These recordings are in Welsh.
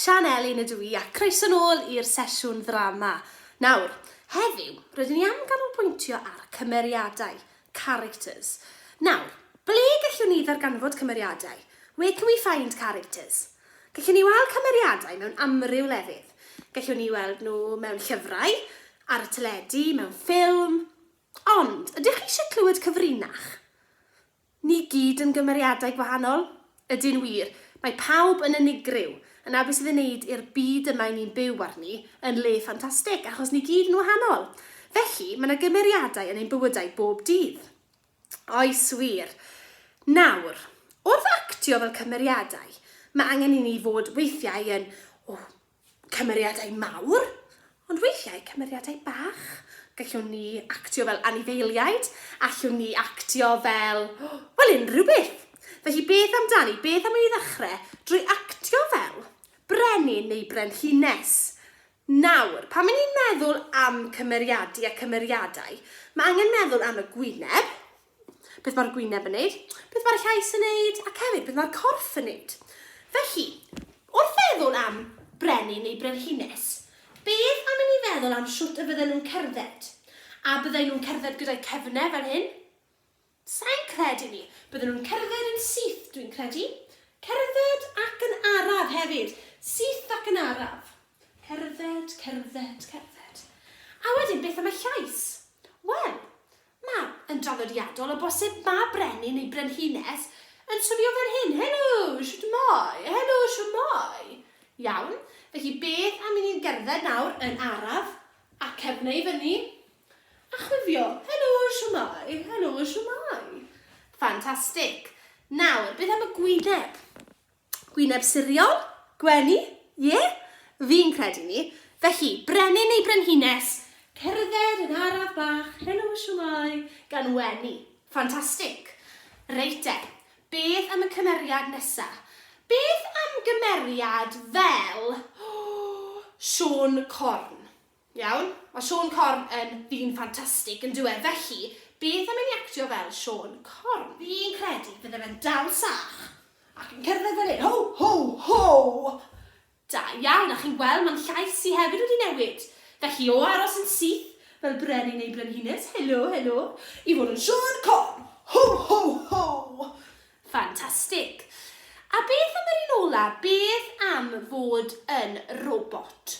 Sian Elin ydw i a croeso nôl i'r sesiwn ddrama. Nawr, heddiw, rydyn ni am ganolbwyntio ar cymeriadau, characters. Nawr, ble gallwn ni ddarganfod cymeriadau? Where can we find characters? Gallwn ni weld cymeriadau mewn amryw lefydd. Gallwn ni weld nhw mewn llyfrau, ar y teledu, mewn ffilm. Ond, ydych chi eisiau clywed cyfrinach? Ni gyd yn gymeriadau gwahanol? Ydy'n wir, mae pawb yn unigryw, yna beth sydd ei wneud i'r byd yma i ni'n byw arni yn le ffantastig, achos ni gyd yn wahanol. Felly, mae yna gymeriadau yn ein bywydau bob dydd. Oes wir. Nawr, wrth actio fel cymeriadau, mae angen i ni fod weithiau yn, o, cymeriadau mawr, ond weithiau cymeriadau bach. Gallwn ni actio fel anifeiliaid, allwn ni actio fel, wel, unrhyw beth. Felly beth amdani, beth am i ni ddechrau drwy actio fel brenin neu brenhines? Nawr, pan 'y ni'n meddwl am cymeriadu a cymeriadau, mae angen meddwl am y gwyneb, beth mae'r gwyneb yn wneud, beth mae'r llais yn wneud, ac hefyd beth mae'r corff yn wneud. Felly, wrth feddwl am brenin neu brenhines, beth am i ni feddwl am shwt y bydden nhw'n cerdded? A bydden nhw'n cerdded gyda'i cefnau fel hyn? Sai'n credu 'ny. Bydden nhw'n cerdded yn syth, dwi'n credu. Cerdded ac yn araf hefyd. Syth ac yn araf. Cerdded, cerdded, cerdded. A wedyn beth am y llais? Wel, ma', yn draddodiadol o bosib, ma' brenin neu brenhines yn swnio fel hyn, Helo, shwtmai, helo, shwtmai. Iawn, felly beth am i ni gerdded nawr yn araf, a cefn i fyny, A chwifio, Helo, shwmae? Helo, shwmae? Ffantastig. Nawr, beth am y gwyneb? Gwyneb siriol? Gwenu? Ie? Fi'n credu ni. Felly, brenin neu brenhines, cerdded yn araf bach, helo, shwmae? Gan wenu. Ffantastig. Reit de, beth am y cymeriad nesa? Beth am gymeriad fel, oh, Siôn Corn? Iawn, mae Siôn Corn yn ddyn ffantastig, yn dyw e, felly, beth am i ni actio fel Siôn Corn? Fi'n credu bydde fe'n dal sach, ac yn cerdded fel hyn, Ho! Ho! Ho! Da iawn, a chi'n gweld, mae'n llais i hefyd wedi newid, felly o aros yn syth, fel brenin neu brenhines, helo, helo, i fod yn Siôn Corn! Ho! Ho! Ho! Ffantastig. A beth am yr un ola', beth am fod yn robot?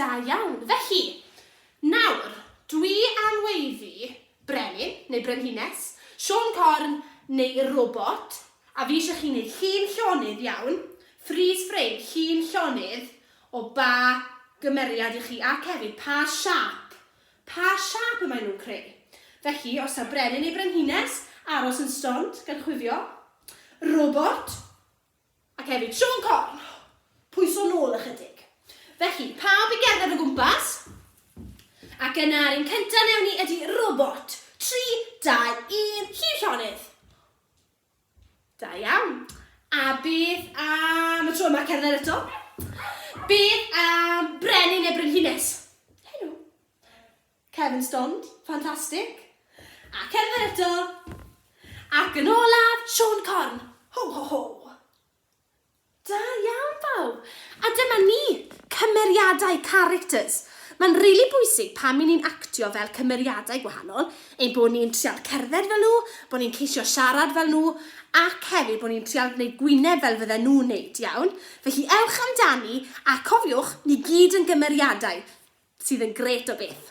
Da iawn. Felly, nawr, dwi am weiddi brenin, neu brenhines, siôn corn, neu robot, a fi eisiau chi wneud llun llonydd iawn, freeze frame, llun llonydd, o ba gymeriad i chi, ac hefyd pa siâp, pa siâp y maen nhw'n creu. Felly, os taw brenin neu brenhines, aros yn stond, gan chwifio. Robot, Ac hefyd Siôn Corn. Pwyso nôl ychydig. Felly, pawb i gerdded o gwmpas. Ac yna, yr un cyntaf newn ni ydy robot. 3, 2, 1, Llyr Llonydd. Da iawn. A beth am y tro yma cerdded eto? Beth am Brenin neu Brenhines? Helo. Kevin Stond, ffantastig! Ac er mae eto! Ac yn olaf, Siôn Corn! Ho ho ho! Da iawn bawb! A dyma ni! Cymeriadau, characters! Mae'n rili bwysig pan 'y ni'n actio fel cymeriadau gwahanol, ein bod ni'n trial cerdded fel nhw, bod ni'n ceisio siarad fel nhw, ac hefyd bod ni'n trial gwneud gwyneb fel fydden nhw'n 'neud, iawn? Felly ewch amdani, a cofiwch, ni gyd yn gymeriadau! sydd yn grêt o beth.